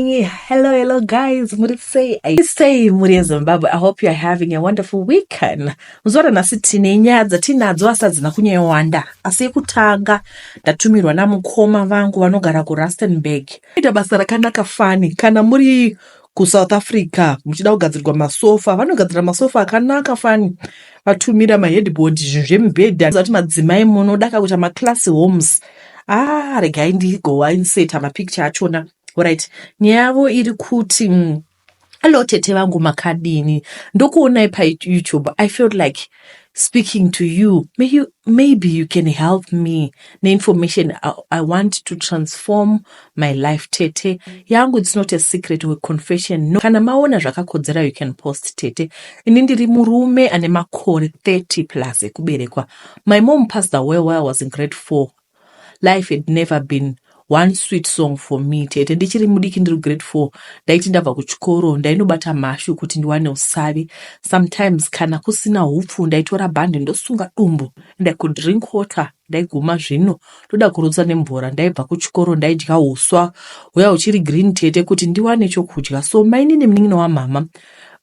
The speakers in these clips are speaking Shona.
Hello, hello guys, muri sei? I say muri yeZimbabwe. I hope you are having a wonderful weekend. Muzora nhasi tine nyaya dzatinadzo asi hadzina kunyewanda. Asi yekutanga ndatumirwa namukoma vangu vanogara kuRustenburg. Ita basa rakanaka fani kana muri kuSouth Africa muchida kugadzirwa masofa, vanogadzira masofa akanaka fani. Vatumira maheadboard zvinhu zvemibhedha. Zati madzimai munoda kakuita maclass homes. Ah, regai ndigowa inseta mapicture achona. Alright, nyaya yavo iri kuti mm, hello tete vangu makadini ndokuonai payoutube i felt like speaking to you. May you maybe you can help me neinformation I, I want to transform my life tete yangu it's not a secret or confession no kana maona zvakakodzera you can post tete ini ndiri murume ane makore 30 plus ekuberekwa my mom passed away while I was in grade 4 Life had never been one sweet song for me tete ndichiri mudiki ndiri grade four ndaiti ndabva kuchikoro ndainobata mhashu kuti ndiwane usavi sometimes kana kusina hupfu ndaitora bhande ndosunga dumbu and i could drink water ndaiguma zvino ndoda kurutsa nemvura ndaibva kuchikoro ndaidya huswa huya huchiri green tete kuti ndiwane chokudya so mainini munin'ina wamhama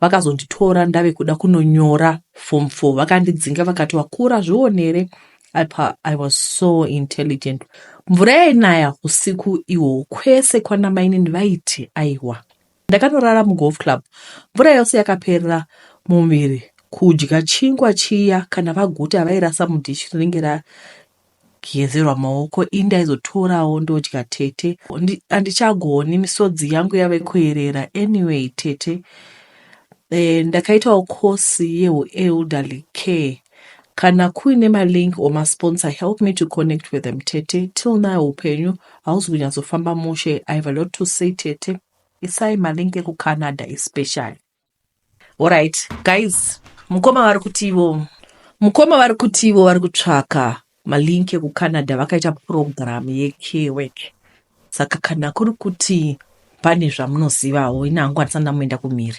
vakazonditora ndave kuda kunonyora form four vakandidzinga vakati wakura zvionere apa i was so intelligent mvura yainaya usiku ihwo kwese kwana mainini vaiti aiwa ndakanorara mugolf club mvura yose yakaperera mumuviri kudya chingwa chiya kana vaguta vairasa mudhishi rinenge gezerwa maoko indi aizotorawo ndodya tete handichagoni misodzi yangu yave kuerera anyway tete e, ndakaitawo kosi yeuelderly care Kana kuine malink or masponsor help me to connect with them tete till now upenyu hausi kunyatsofamba mushe i have a lot to say tete isai malink ekucanada especially orit guys mukoma vari kutivo mukoma vari kutivo vari kutsvaka Malink ekuCanada vakaita purogiramu yeCare Work. Saka kana kuri kuti pane zvamunozivawo, ini hangu handisati ndamboenda kumhiri,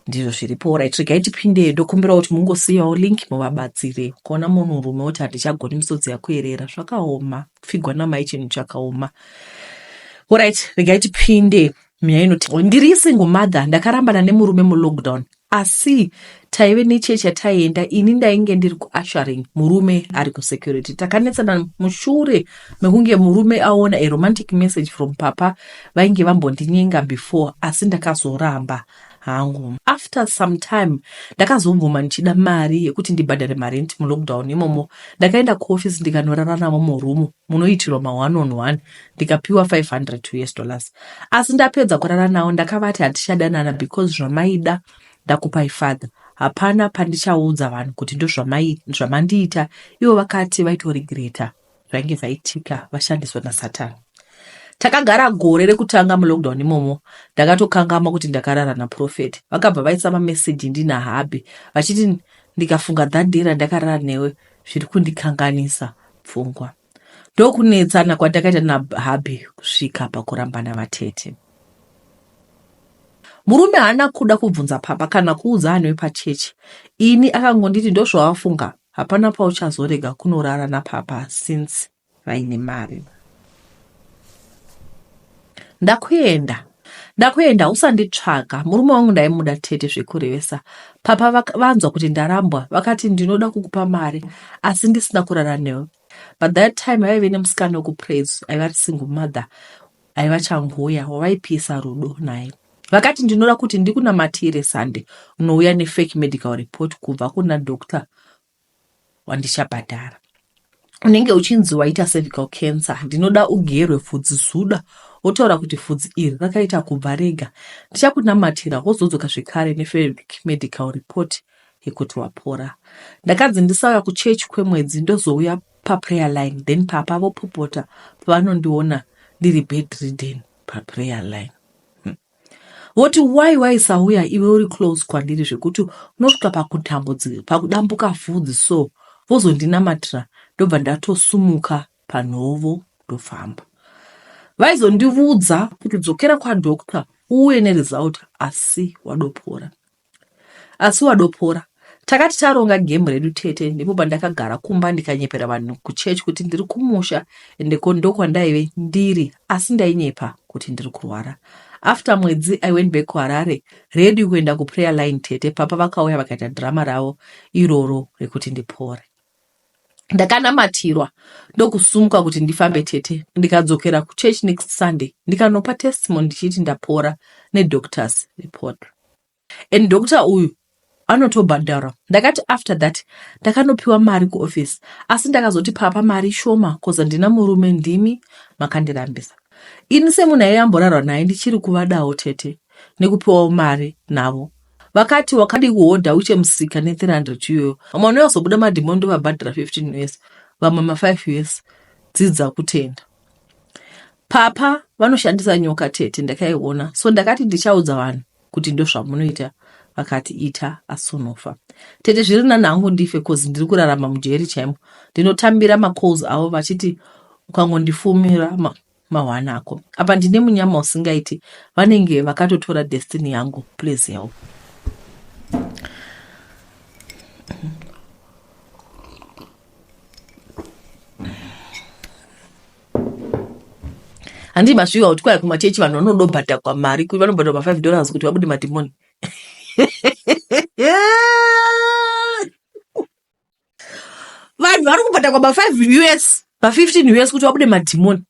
ndizvo zviripo. Orit, regai tipinde, ndokumbira kuti mungosiyawo link muvabatsire. Ukaona munhurume woti handichagoni misodzi yakuerera, zvakaoma. Kupfigwa namai chinhu chakaoma. Orit, regai tipinde. Mia inoti, ndiri single mother, ndakarambana nemurume mulockdown. Asi taive nechurch yataienda ini ndainge ndiri kuushering murume ari kusecurity. Takanetsana mushure mekunge murume aona a romantic message from papa vainge vambondinyenga before asi ndakazoramba hangu. After some time ndakazobvuma ndichida mari yekuti ndibhadhare marent mulockdown imomo. Ndakaenda kuoffice ndikanorara navo murumu. munoitirwa ma one on one ndikapiwa 500 us dollars asi ndapedza kurara nawo ndakavati hatichadanana because zvamaida ndakupai father hapana pandichaudza vanhu kuti ndozvamandiita ivo vakati vaitoregreta zvainge zvaitika vashandiswa nasatani takagara gore rekutanga mulockdown imomo ndakatokangama kuti ndakarara naprofet vakabva vaisa mameseji ndinahabhi vachiti ndikafunga that day randakarara newe zviri kundikanganisa pfungwa ndokunetsana kwatakaita nabhabi kusvika pakurambana vatete murume haana kuda kubvunza papa kana kuudza anhu wepachechi ini akangonditi ndozvawafunga hapana pauchazorega kunorara napapa since vaine mari Ndakuenda ndakuenda usanditsvaga murume wangu ndaimuda tete zvekurevesa papa vanzwa kuti ndarambwa vakati ndinoda kukupa mari asi ndisina kurara newe but that time vaive nemusikana wekupraise aiva ri single mother aiva changuya wavaipisa rudo naye vakati ndinoda kuti ndikunamatire sande unouya nefake medical report kubva kuna doctor wandichabhadhara unenge uchinzi waita cervical cancer ndinoda ugerwe pfudzi zuda wotaura kuti pfudzi iri rakaita kubva rega ndichakunamatira wozodzoka zvekare nefabric medical report yekuti wapora ndakanzi ndisauya kuchechi kwemwedzi ndozouya paprayer line then papa vopopota pavanondiona ndiri bedridden paprayer line voti why waisauya iwe uri close kwandiri zvekuti unosvika pakutambudzika pakudambuka vhudzi so vozondinamatira ndobva ndatosumuka panhovo ndofamba vaizondivudza kuti dzokera kwadoctor uuye neresult asi wadopora Asi wadopora. Takati taronga game redu tete ndipo pandakagara kumba ndikanyepera vanhu kuchurch kuti ndiri kumusha ende ko ndokwandaive ndiri asi ndainyepa kuti ndiri kurwara. After mwedzi I went back kuHarare ready kuenda kuprayer line tete papa vakauya vakaita drama ravo iroro rekuti ndipore. ndakanamatirwa ndokusumuka kuti ndifambe tete ndikadzokera kuchurch next sunday ndikanopa testimony ndichiti ndapora nedoctors report and doctor uyu anotobhadhara ndakati after that ndakanopiwa mari kuoffice asi ndakazoti papa mari shoma bcause handina murume ndimi makandirambisa ini semunhu aiamborarwa naye ndichiri kuvadawo tete nekupiwawo mari navo vakati wakadii kuhodha uche musika ne 300 iyoyo vamwe vanoyazobuda madhimoni ndovabhadhara 15 years vamwe ma 5 years dzidza kutenda papa vanoshandisa nyoka tete ndakaiona so ndakati ndichaudza vanhu kuti ndozvamunoita vakati ita asonofa tete zviri nani hangu ndife cause ndiri kurarama mujeri chaimo ndinotambira macalls avo vachiti ukangondifumira mawana ako apa ndine munyama usingaiti vanenge vakatotora destiny yangu please help handii masviwa kuti kwaya kumachechi vanhu vanodobhadhakwa mari kuti vanobhadhwa ma5 dollars kuti vabude madhimoni vanhu vari kubhadhakwa ma 5 us ma 15 us kuti vabude madhimoni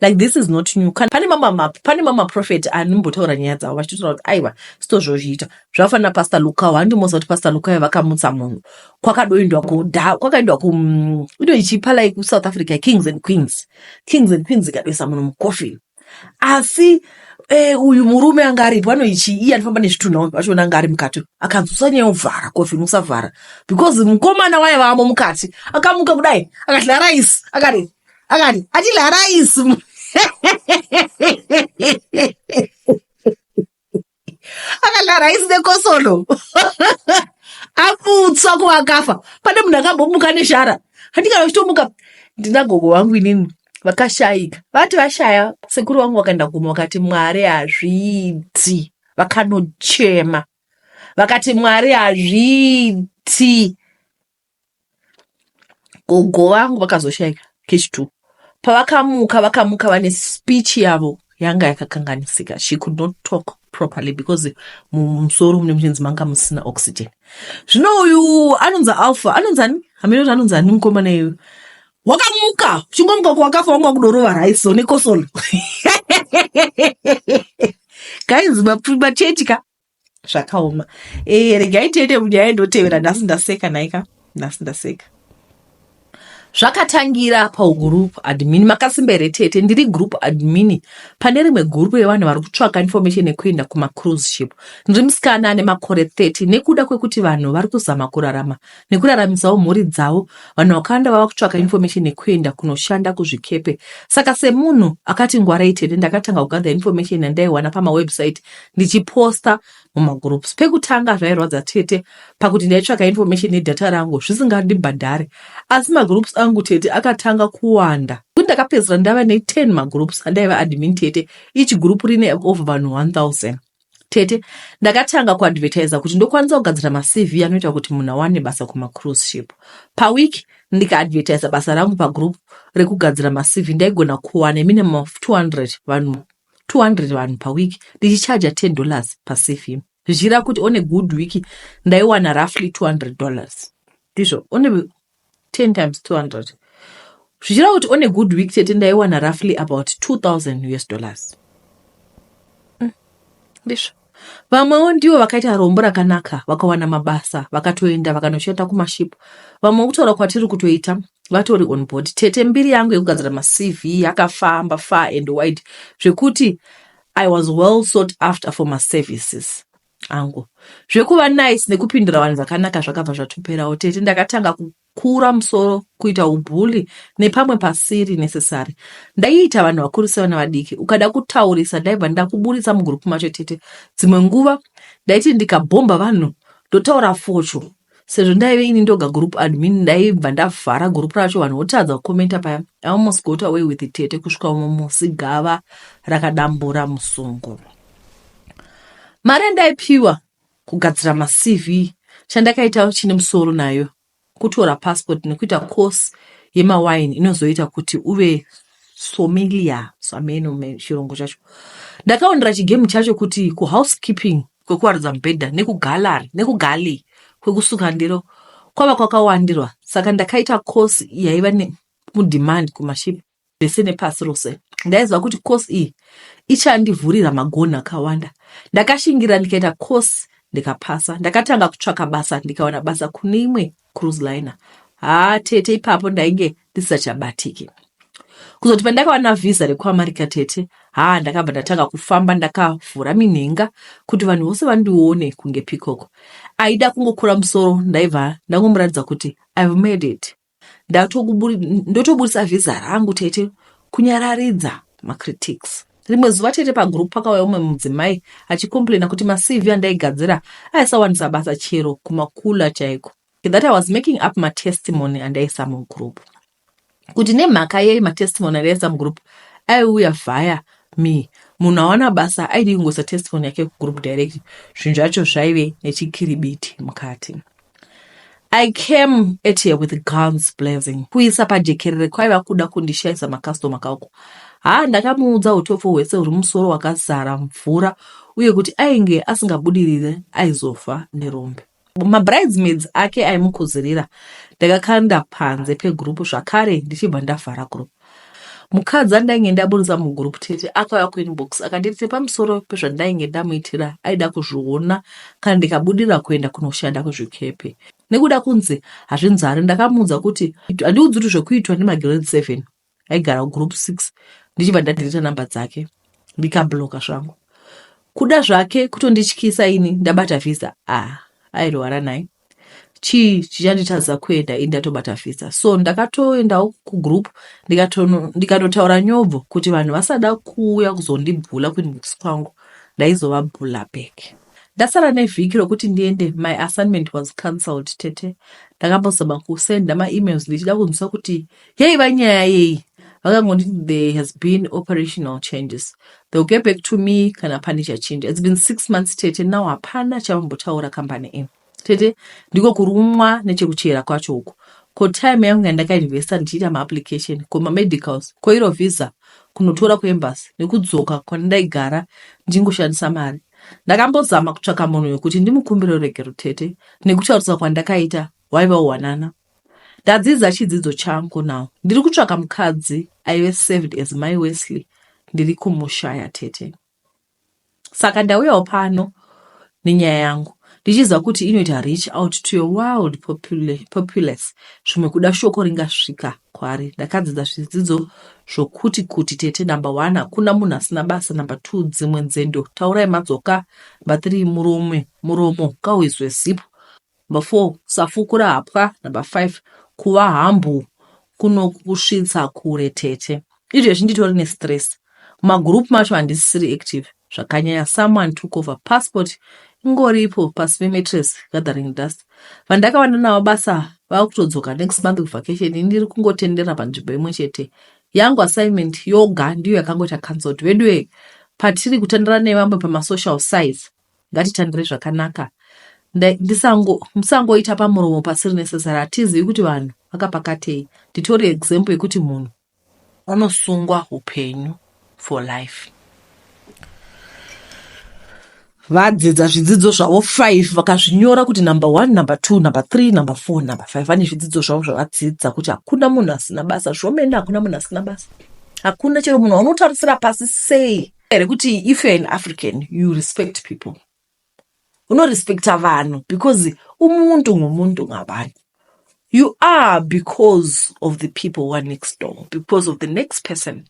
like this is not new kana pane mamama pane mamaprofeti anombotaura nyaya dzavo vachitotaura kuti aiwa sito zvozviita zvakafanira pastor lukao handimoza kuti pastor lukao vakamutsa munhu kwakadoindwa kuda kwakaendwa ku mm, ino ichipa like kusouth africa kings and queens kings and queens ikadoisa munhu mucoffin asi eh, uyu murume anga aripo anoichi iye anofamba nezvitunha uyu vachiona anga ari mukati akanzi usanyovhara kofini usavhara because mukomana waye vamo mukati akamuka kudai akati laraisi akati akati ati laraisi akadaro haisi nekosolo aputswa kuvakafa pane munhu akambomuka neshara handika vachitomuka ndina gogo vangu inini vakashaika vati vashaya sekuru vangu vakaenda kuma vakati mwari hazviiti vakanochema vakati mwari hazviiti Gogo vangu vakazoshaika cash two. Pavakamuka vakamuka vane speech yavo yanga yakakanganisika. She could not talk properly because mumusoro mune muchinzi manga musina oxygen. Zvino uyu anonzi Alpha, anonzi ani? Hameno kuti anonzi ani mukomana iyu. Wakamuka, uchingomuka kwakafa wanga kudorova rice one kosolo. Guys, machechi ka zvakaoma e, regai tiende munyaya indotevera nhasi ndaseka naika nhasi ndaseka zvakatangira pagroup admin makasimba here tete ndiri group admin pane rimwe gurupu yevanhu vari kutsvaka information yekuenda kumacruise ship ndiri musikana ane makore 30 nekuda kwekuti vanhu vari kuzama kurarama nekuraramisawo mhuri dzavo, vanhu vakawanda vava kutsvaka information nekuenda kunoshanda kuzvikepe. Saka semunhu akati ngwarai tete, ndakatanga kugather information yandaiwana pamawebsite ndichiposta mumagroups. Pekutanga zvairwadza tete pakuti ndaitsvaka information nedata rangu zvisingandibhadhare, asi magroups angu tete akatanga kuwanda kuti ndakapedzisira ndava ne10 magroups andaiva admin tete, each group rine over vanhu 1000. Tete, ndakatanga kuadvertiser kuti ndokwanisa kugadzira maCV anoita kuti munhu awane basa kumacruise ship. Paweek ndikaadvertiser basa rangu pagroup rekugadzira maCV ndaigona kuwana minimum of 200 vanhu 200 vanhu paweek ndichichaja 10 dollars paCV. Zvichira kuti on a good week ndaiwana roughly 200 dollars. Ndizvo on a, 10 times 200 zvichireva kuti on a good week chete ndaiwana roughly about 2000 us dollars ndizvo vamwewo ndivo vakaita rombo rakanaka vakawana mabasa vakatoenda vakanoshanda kumashipo vamwe kutaura kwatiri kutoita vatori on board tete mbiri yangu yekugadzira macv yakafamba far and wide zvekuti i was well sought after for maservices angu zvekuva nice nekupindura vanhu zvakanaka zvakabva zvatoperawo tete ndakatanga kukura musoro kuita ubhuli nepamwe pasiri necessary ndaiita vanhu vakuru sevana vadiki ukada kutaurisa ndaibva ndakuburitsa mugurupu macho tete dzimwe nguva ndaiti ndikabhomba vanhu ndotaura focho sezvo ndaive ini ndoga group admin ndaibva ndavhara group racho vanhu votadza kukomenta paya i almost got away with tete kusvika umwe musi gava rakadambura musungo mari yandaipiwa kugadzira macv chandakaita chine musoro nayo kutora passport nekuita course yemawine inozoita kuti uve somilia sameno chirungu chacho ndakaonera chigame chacho kuti kuhousekeeping kwekuwarudza mubhedha nekugallery nekugalley kwekusuka ndiro kwava kwakawandirwa saka ndakaita course yaiva nemudemand kumashipi vese nepasi rose ndaiziva kuti course iyi ichandivhurira magonhi akawanda ndakashingirira ndikaita course ndikapasa ndakatanga kutsvaka basa ndikawana basa kune imwe cruise liner haa tete ipapo ndainge ndisisachabatiki kuzoti pandakawana vhiza rekuamarica tete haa ndakabva ndatanga kufamba ndakavhura minhenga kuti vanhu vose vandione kunge pikoko aida kungokura musoro ndaibva ndangomuratidza kuti ive made it ndotoburitsa vhiza rangu tete kunyararidza macritics Rimwe zuva chete pagroup pakauya umwe mudzimai achicomplaina kuti maCV andaigadzira aisawanisa basa chero kumakula chaiko. That I was making up matestimony andaisa mugroup. Kuti nemhaka yei matestimony andaisa mugroup aiuya via me munhu awana basa aidi kungoisa testimony yake kugroup direct zvinhu zvacho zvaive nechikiribiti mukati. I came at her with guns blazing. Kuisa pajekerere kwaiva kuda kundishaisa makastoma kauko. Haa ndakamuudza utopfu hwese huri musoro wakazara mvura uye kuti ainge asingabudirire aizofa nerombe. Mabridesmaids ake aimukuzirira ndakakanda panze pegroup zvakare ndichibva ndavhara group. Mukadzi andainge ndaburitsa mugroup tete akauya kuinbox akanditi nepamusoro pezvandainge ndamuitira aida kuzviona kana ndikabudira kuenda kunoshanda kuzvikepe nekuda kunzi hazvinzari ndakamuudza kuti handiudzi kuti zvekuitwa nemagrade seven aigara kugroup six ndichibva ndadhirita namba dzake ndikabloka zvangu kuda zvake kutondityisa ini ndabata visa ah airwara nai chii chichanditadza kuenda ini ndatobata visa so ndakatoendawo kugroup ndikatotaura nyobvo kuti vanhu vasada kuuya kuzondibhula kuinbox kwangu ndaizovabhula back ndasara nevhiki rokuti ndiende my assignment was cancelled tete ndakambozama kusenda maemails ndichida kunzwisa kuti yaiva nyaya yei vakangonditi there has been operational changes they'll get back to me kana pane chachinja it's been six months tete now hapana chavambotaura kambani ino tete ndiko kurumwa nechekuchera kwacho uku ko time yangu yandakainvesta ndichiita maapplication ko mamedicals ko iro visa kunotora kuembasi nekudzoka kwandaigara ndichingoshandisa mari ndakambozama kutsvaka munhu wekuti ndimukumbire ruregero tete nekutaurisa kwandakaita waiva uwanana Ndadzidza chidzidzo changu now. Ndiri kutsvaka mukadzi aive served as mai Wesley ndiri kumushaya tete. Saka ndauyawo pano nenyaya yangu ndichiziva kuti inoita reach out to your world populace zvimwe kuda shoko ringasvika kwari ndakadzidza zvidzidzo zvokuti kuti tete number one hakuna munhu asina basa number two dzimwe nzendo taurai madzoka number three murume muromo kauizwe zipo Number four, kusafukura hapwa. Number five, kuva humble kunokusvitsa kure tete. Izvezvi nditori nestress. Mumagroup macho handisisiri active zvakanyanya. Someone took over passport ingoripo pasi pematress gathering dust. Vandakavanda navo basa vava kutodzoka next month kuvacation. Ndiri kungotenderera panzvimbo imwe chete. Yangu assignment yoga ndiyo yakangoita cancelled. Veduwe, patiri kutandara nevamwe pamasocial size, ngatitambire zvakanaka ndisango musangoita pamuromo pasiri necessary hatizivi kuti vanhu vakapakatei nditori example yekuti munhu anosungwa upenyu for life vadzidza zvidzidzo zvavo five vakazvinyora kuti number one number two number three number four number five vane zvidzidzo zvavo zvavadzidza kuti hakuna munhu asina basa zvomene hakuna munhu asina basa hakuna chero munhu aunotarisira pasi sei here kuti if you're an african you respect people unorespecta vanhu because umuntu ngomuntu ngabantu you are because of the people who are next door because of the next person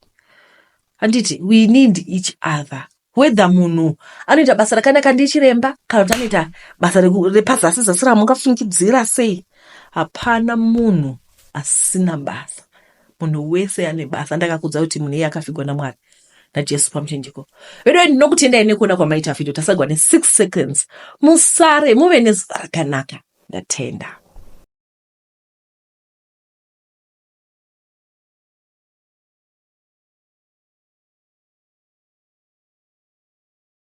handiti we need each other whether munhu anoita basa rakanaka ndichiremba kana kuti anoita basa repazasi zasi ramungafungidzira sei hapana munhu asina basa munhu wese ane basa ndakakudza kuti munhu iye akafigwa namwari najesu pamuchinjiko veduwe ndinokutendai nekuona kwamaita vhidhio tasagwa ne6 seconds musare muve nezuva rakanaka ndatenda